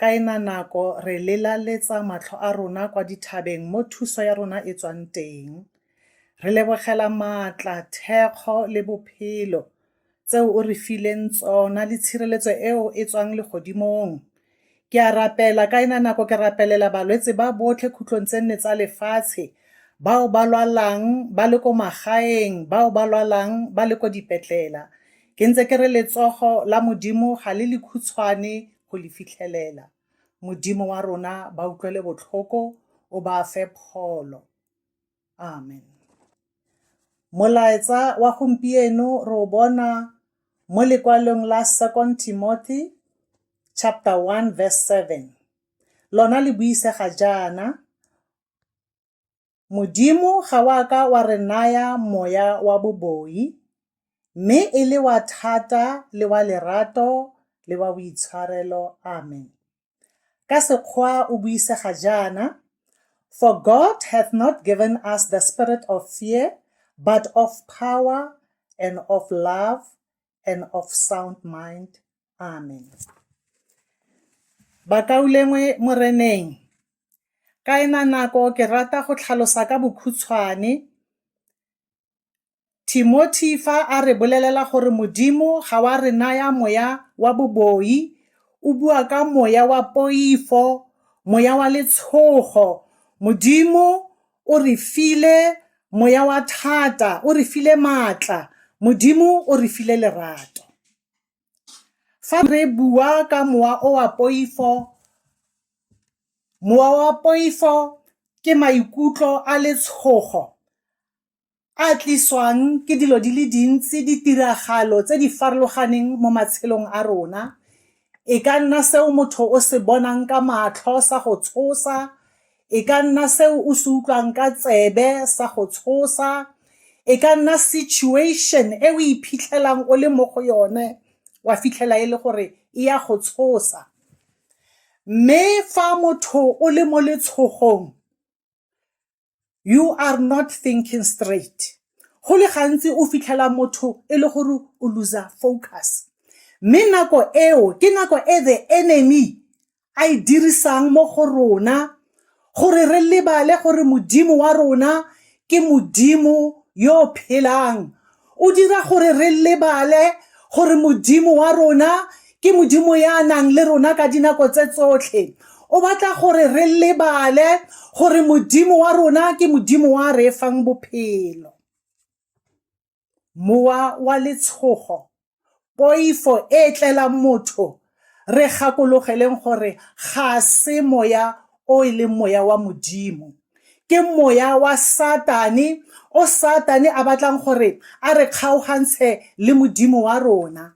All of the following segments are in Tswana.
Ka ena nako re lelaletsa matlho a rona kwa dithabeng mo thuso ya rona e tswang teng. Re lebogela maatla, thekgo le bophelo tseo o re fileng tsona le tshireletso eo e tswang legodimong. Ke a rapela ka ena nako ke rapelela balwetse ba botlhe khutlong tse nne tsa lefatshe, bao ba lwalang ba le ko magaeng, bao ba lwalang ba le ko dipetlela. Ke ntse ke re letsogo la Modimo ga le lekhutshwane go le fitlhelela. Modimo wa rona ba utlwele botlhoko, o ba fe pholo. Amen. Molaetsa wa gompieno re o bona mo lekwalong la 2 Timothy chapter 1 verse 7. Lona le buisega jaana, Modimo ga wa ka wa re naya moya wa boboi, mme e le wa thata le wa lerato le wa boitshwarelo. Amen. Ka Sekgoa o buisega jaana, For God hath not given us the spirit of fear, but of power and of love and of sound mind. Amen. Bakaulengwe Moreneng, ka ena nako ke rata go tlhalosa ka bokhutshwane Timothy fa a re bolelela gore Modimo ga wa re naya moya wa boboi, o bua ka moya wa poifo, moya wa letshogo. Modimo o re file moya wa thata o re file maatla modimo o re file lerato fa re bua ka mowa o wa poifo mowa wa poifo ke maikutlo a letshogo a tliswang ke dilo di le dintsi, ditiragalo tse di farologaneng mo matshelong a rona. E ka nna seo motho o se bonang ka matlho sa go tshosa, e ka nna seo o se utlwang ka tsebe sa go tshosa, e ka nna situation e o iphitlhelang o le mo go yone wa fitlhela e le gore e ya go tshosa. Mme fa motho o le mo letshogong you are not thinking straight go le gantsi o fitlhela motho e le gore o losa focus mme nako eo ke nako e the enemy a e dirisang mo go rona gore re lebale gore modimo wa rona ke modimo yo phelang O dira gore re lebale gore Modimo wa rona ke Modimo ya nang le rona ka dinako tse tsotlhe. O batla gore re lebale gore Modimo wa rona ke Modimo wa re fang bophelo. Mowa wa letshogo poifo e e tlelang motho re gakologeleng gore ga se moya o e leng moya wa modimo ke moya wa satane o satane a batlang gore a re kgaogantshe le modimo wa rona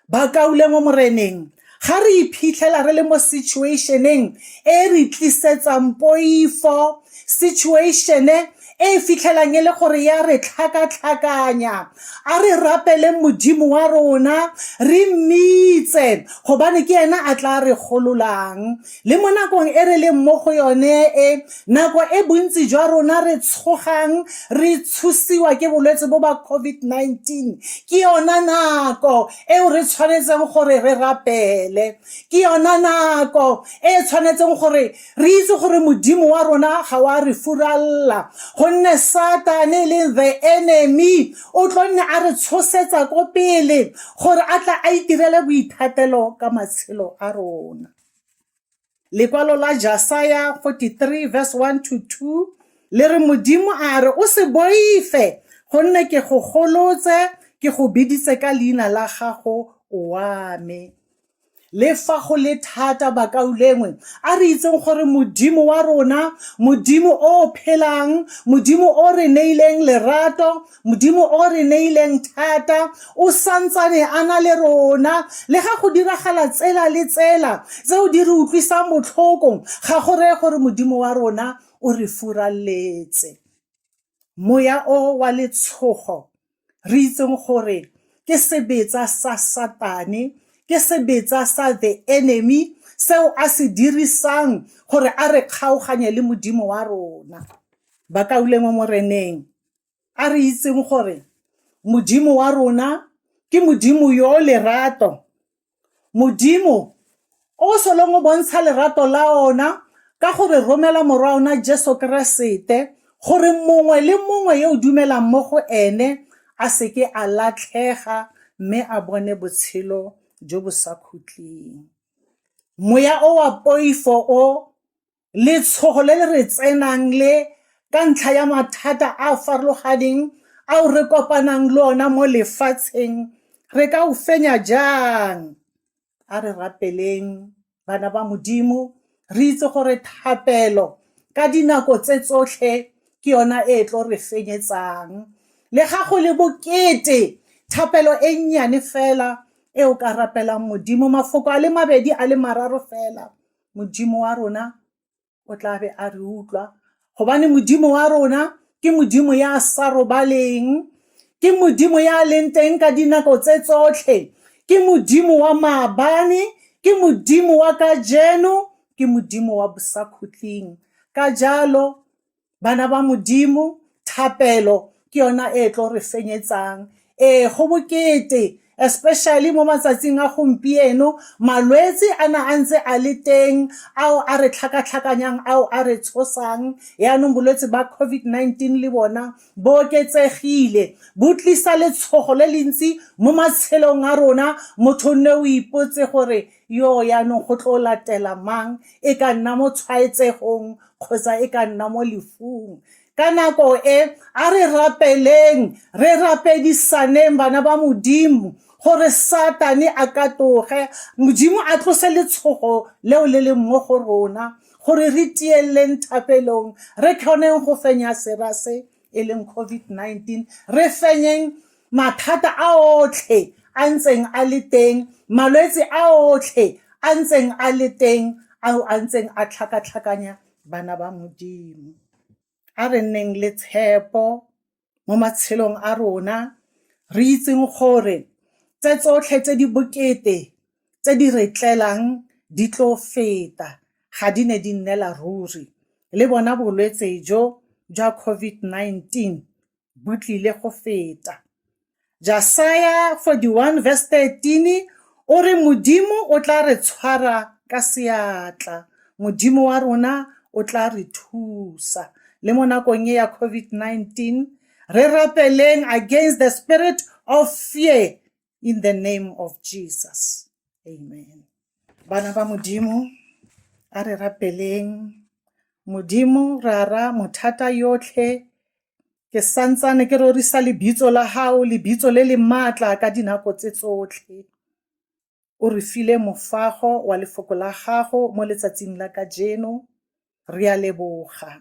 ba kaule mo moreneng ga re iphitlhela re le mo situationeng e re tlisetsang poifo situatione e e fitlhelang e le gore ya re tlhakatlhakanya a re rapeleng modimo wa rona re mmitse gobane ke ena a tla re gololang Le mo nakong e re leng mo go yone e, nako e bontsi jwa rona re tshogang re tshusiwa ke bolwetse bo ba COVID-19, ke yona nako eo re tshwanetseng gore re rapele. Ke yona nako e e tshwanetseng gore re itse gore Modimo wa rona ga wa re furalela, gonne Satane e leng the enemy o tlo nne a re tshosetsa ko pele gore a tla a itirele boithatelo ka matshelo a rona. Lekwalo la Jasaya 43 verse 1 to 2 le re Modimo a re o se boife gonne ke go golotse ke go biditse ka leina la gago wa me. Le fa go le thata bakaulengwe a re itseng gore Modimo wa rona, Modimo o phelang, Modimo o re neileng lerato, Modimo o re neileng thata o santsane a na le rona le ga go diragala tsela le tsela tseo di re utlwisang botlhoko ga go reye gore Modimo wa rona o re furaletse moya o wa letshogo re itseng gore ke sebetsa sa satane ke sebetsa sa the enemy seo a se dirisang gore a re kgaoganye le Modimo wa rona ba kaulengwe moreneng a re itseng gore modimo wa rona ke modimo yo lerato modimo o solong o bontsha lerato la ona ka gore romela morwa ona jesu keresete gore mongwe le mongwe yo o dumelang mo go ene a seke a latlhega mme a bone botshelo jo bo sa khutleng moya o wa poifo o letshogo le le re tsenang le ka ntlha ya mathata a a farologaneng ao re kopanang le ona mo lefatsheng re ka o fenya jang a re rapeleng bana ba modimo re itse gore thapelo ka dinako tse tsotlhe ke yona e e tlo re fenyetsang le ga go le bokete thapelo e nnyane fela e o ka rapelang modimo mafoko a le mabedi a le mararo fela Modimo wa rona o tla be a re utlwa gobane Modimo wa rona ke Modimo ya sa robaleng ke Modimo ya leng teng ka dinako tse tsotlhe ke Modimo wa maabane ke Modimo wa kajeno ke Modimo wa bosakhutleng ka jalo bana ba modimo thapelo ke yona e tlo re fenyetsang ee go bokete especially mo matsatsing a gompieno malwetse a na a ntse a le teng ao a re tlhakatlhakanyang ao a re tshosang yaanong bolwetse ba covid-19 le bona bo oketsegile bo tlisa letshogo le le ntsi mo matshelong a rona motho nne o ipotse gore Yoo jaanong go tlo latela mang, e ka nna mo tshwaetsegong kgotsa e ka nna mo lefung. Ka nako e, a re rapeleng, re rapedisaneng bana ba Modimo gore Satane a katoge, Modimo a tlose letshogo leo le leng mo go rona, gore re tieleleng thapelong, re kgoneng go fenya sera se e leng COVID-19 re fenyeng mathata a otlhe a ntseng a le teng malwetse a otlhe a ntseng a le teng ao a ntseng a tlhakatlhakanya bana ba modimo a re nneng le tshepo mo matshelong a rona re itseng gore tse tsotlhe tse di bokete tse di re tlelang di tlo feta ga di ne di nnela ruri le bona bolwetse jo jwa COVID-19 bo tlile go feta. Jasaya 41 verse 13 o re Modimo o tla re tshwara ka seatla, Modimo wa rona o tla re thusa. Le mo nakong e ya COVID-19 re rapeleng against the spirit of fear in the name of jesus amen bana ba modimo a re rapeleng modimo rara mothata yotlhe ke santsane ke rorisa lebitso la gago lebitso le le maatla ka dinako tse tsotlhe o re file mofago wa lefoko la gago mo letsatsing la kajeno re a leboga